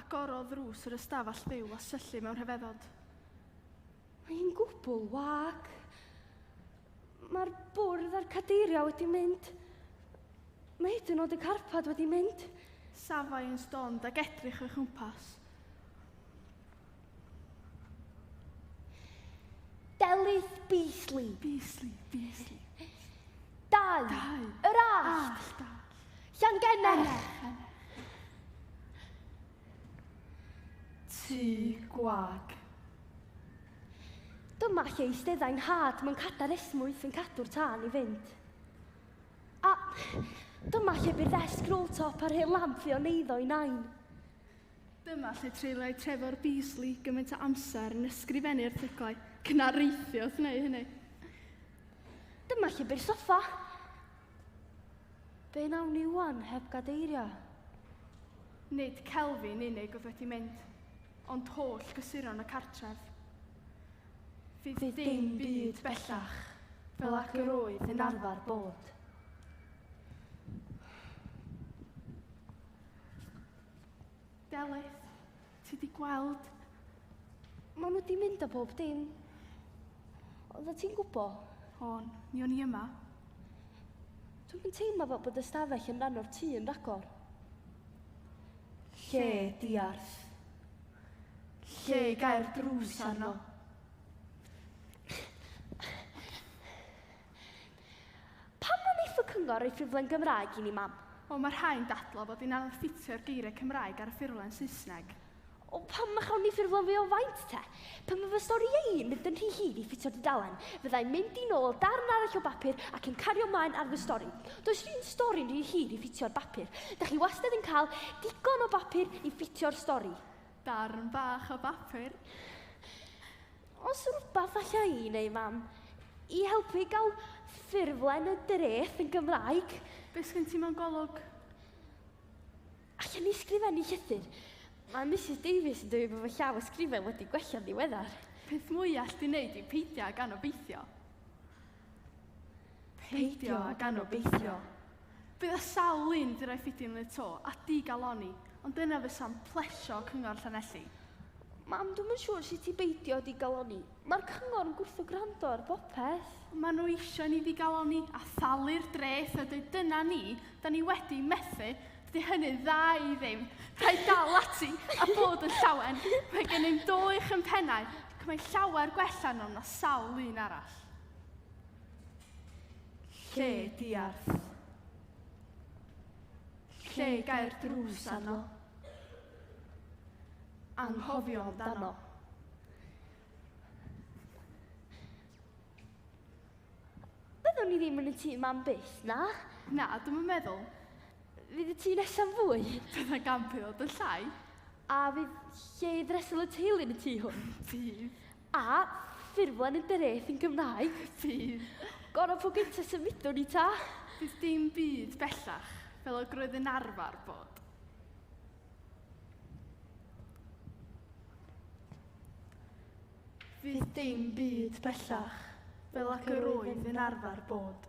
Agorodd ddrws yr ystafell fyw a syllu mewn rhyfeddod. Mae hi'n gwbl wag. Mae'r bwrdd a'r cadeiriau wedi mynd. Mae hyd yn oed y carpad wedi mynd. Safai yn stond ac edrych o'i chwmpas. Delyth Beasley. Beasley, Beasley. Dau. Dau. Yr allt. Llangenech. Tŷ gwag. Dyma lle eisteddai'n nhad mewn cadar esmwyth yn cadw'r tân i fynd. A dyma lle bu'r ddesg roll-top a'r hen lamp fu o'n eiddo i nain. Dyma lle treuliai Trevor Beasley gymaint o amser yn ysgrifennu erthyglau, cynariaethu wrth wneud hynny. Dyma lle byr soffa. Be nawn ni wan heb gadeirio? Nid Kelvin unig oedd wedi mynd, ond holl gysuron y cartref. Fydd dim byd bellach fel ac yr oedd yn arfer bod. Delyth, ti di gweld? Maen nhw di mynd a bob dim. Oedda ti'n gwbo? Hon, mi o'n i yma. Dwi'n yn teimlo fel bod ystafell yn rhan o'r tŷ yn ragor. Lle diarth. Lle i gael drws arno. Pam na wneith y Cyngor roi ffurflen Gymraeg i ni, Mam? Wel, mae rhai'n dadlau fod hi'n anodd ffitio'r geiriau Cymraeg ar y ffurflen Saesneg. O, pam na chawn ni ffurflen fwy o faint, te? Pe mae fy storïau i'n mynd yn rhy hir i ffitio'r dudalen, fydda i'n mynd i nôl darn arall o bapur ac yn cario 'mlaen ar fy stori. Does 'r un stori'n rhy hir i ffitio'r bapur. Da chi wastad yn cael digon o bapur i ffitio'r stori. Darn bach o bapur. Os rwbath alla i neu mam i helpu i gael ffurflen y dreth yn Gymraeg? Be sgen ti mewn golwg? Allen ni sgrifennu llythyr? Mae Misus Davies yn dweud bod fy llaw ysgrifen wedi gwella'n ddiweddar. Peth mwya all di neud yw peidio ag anobeithio. Peidio ag anobeithio. Bydd y sawl un di roi ffidi yn y to a di galoni, ond dyna fysa'n plesio Cyngor Llanelli. Mam, dwi'm yn siŵr sut i beidio di galoni. Mae'r cyngor yn gwrtho gwrando ar bopeth. Mae nhw eisiau ni di galoni a thalu'r dreth a dweud dyna ni, da ni wedi methu, dydy hynny'n dda i ddim. Rhaid dal ati a bod yn llawen. Mae gennym do uwch yn pennau ac mae'n llawer gwell arnom na sawl un arall. Lle diarth. Lle gau'r drws arno. Anghofio amdano. Byddwn ni ddim yn y tŷ mam byth, na? Na, dwi'm yn meddwl. Fydd y tŷ nesaf fwy. Dyna gampio, dy llai. A fydd lle i ddresel y teulu yn y tŷ hwn? Bydd. A ffurflen yn dereth yn Gymraeg. Bydd. Gorau po gynta symudwn i ta. Bydd dim byd bellach fel y roedd yn arfer bod. Fydd dim byd bellach fel ac yr oedd yn arfer bod.